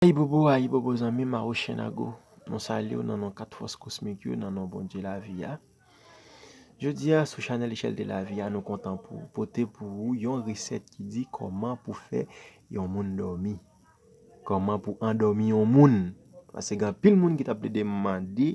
Ayibobo ayibobo zanmim Awochenago mwen salyew nan non 4 fòs kosmik yo nan non Bondye lavi a jodia sou chanèl echèl de lavi a nou kontan pou pote pou ou yon resèt ki di kòman pou fè yon moun dòmi kòman pou andòmi yon moun pase gen anpil moun ki tap plede mande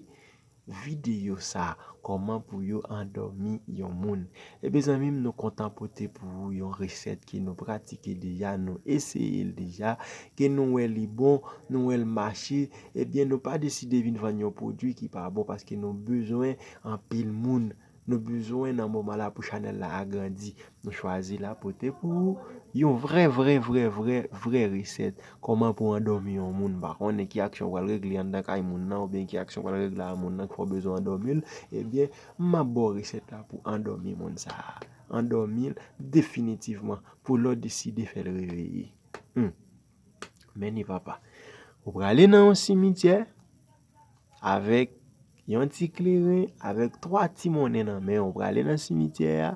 Videyo sa Koman pou yo andomi yon moun. Ebyen zanmim nou kontan pote pou ou yon resèt ke nou pratike deja nou eseyel deja ke nou wè li bon nou wèl mache ebyen nou pa deside vin vann yon pwodwi ki pa bon paske nou bezwen anpil moun Nou bezwen nan moman la pou chanèl la agrandi nou chwazi la pote pou ou yon vrè vrè vrè vrè vrè resèt kòman pou andòmi yon moun m pa konnen ki aksyon pral regle anndan kay moun nan oubyen ki aksyon pral regle a moun nan ki fè w bezwen andòmi l ebyen map ba w resèt la pou andòmi moun sa andòmi l definitivman pou lè w deside fè l reveye humm men ni papa ou prale nan yon simityè. Avèk yon ti kleren, avèk 3 ti monnen nan men w, ou prale nan simityè a,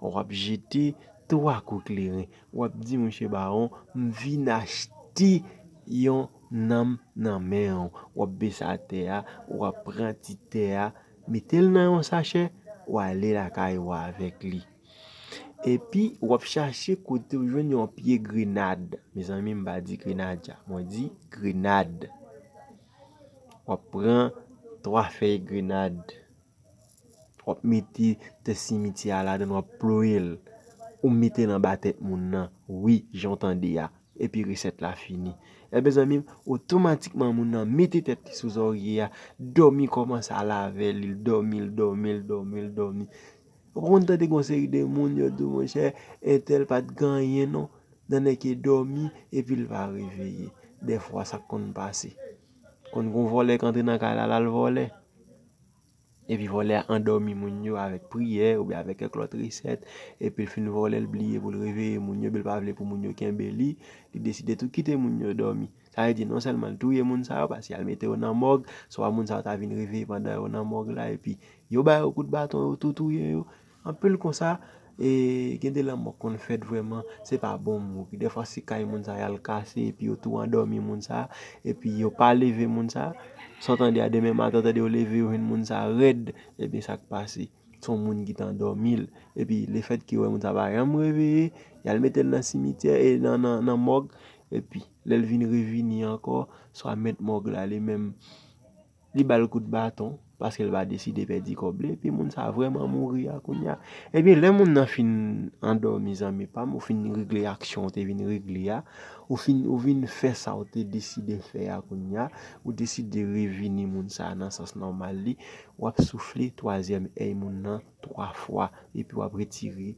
w ap jete 3 kou kleren. W ap di mouche bawon, m vin achte yon nanm nan men w. W ap bese atè a, w ap pran ti tè a, mete l nan yon sachè, w ale lakay ou avèk li. Epi, w ap chache kote ou jwenn yon pye grenad. Mezanmi, m pa di grenaja, mwen di grenad. wap pran 3 fèy grenad wap mete tè simityè a ladann wap ployel ou metel anba tèt moun nan wi janw tande a epi resèt la fini e mezanmi otomatikman moun nan mete tèt li sou zòrye a dòmi kòmanse al avèl li dòmi l dòmi l dòmi l dòmi. Ou konn tande gon seri de moun yo diw monchè entèl pat gen anyen non nan nèg ki dòmi epil pa reveye dèfwa sak konn pase konn gon vòlè k antre nan kay la lal vòlè epi vòlè a andòmi moun yo avèk priyè oubyen avèk kèk lòt resèt epil fin vòlè l bliye poul reveye moun yo bil pa vle pou moun yo kenbe li li deside tou kite moun yo dòmi. Sa vle di non sèlman l touye moun sa yo paske y al mete yo nan mòg, swa moun sa yo ta vin reveye pandan yo nan mòg la epi yo ba yo kout baton yo tou touye yo. Anpil konsa e gen de lanmò k konn fèt vrèman se pa bon mou. Gen dèfwa se kay moun sa y al kase epi yo tou andòmi moun sa epi yo pa leve moun sa. Sa w tande a demen maten w tande yo leve yo jwenn moun sa rèd ebyen sa k pase se yon moun ki t andòmi l epi lefètke yo wè moun sa pa janm reveye y al mete l nan simityè e nan mòg Epi, lè l vin revini ankò, swa mèt mòg la li menm, li ba l kout baton, paske l pa deside pèdi kòb li, epi moun sa a vrèman mouri a kounye a. Ebyen, lè moun nan fin andòmi zanmi pa m, ou fin regle aksyon ou te vin regle a, ou fin, ou vin fè sa ou te deside fè a kounye a, ou deside revini moun sa a nan sans nòmal li, w ap soufle twazyèm èy moun nan twa fwa, epi w ap retire.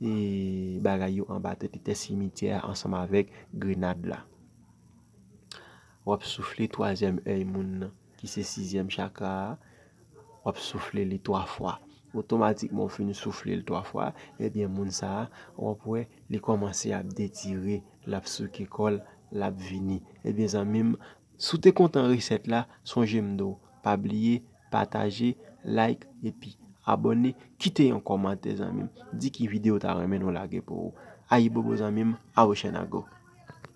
E bagay yo anba tè tè simityè a ansanm avèk grenad la. W ap soufle twazyèm èy moun nan, ki se sizyèm chakra a, w ap soufle li twa fwa. Otomatikman ou fin soufle l twa fwa, ebyen moun sa a, w ap wè li kòmanse ap detire, l ap souke kò l, l ap vini. Ebyen zanmi m, Si w te kontan resèt la sonje m di w pa bliye pataje, like epi abòne kite yon kòmantè zanmi m di ki videyo w ta renmen nou lage pou ou. Ayibobo zanmi m Awochènago!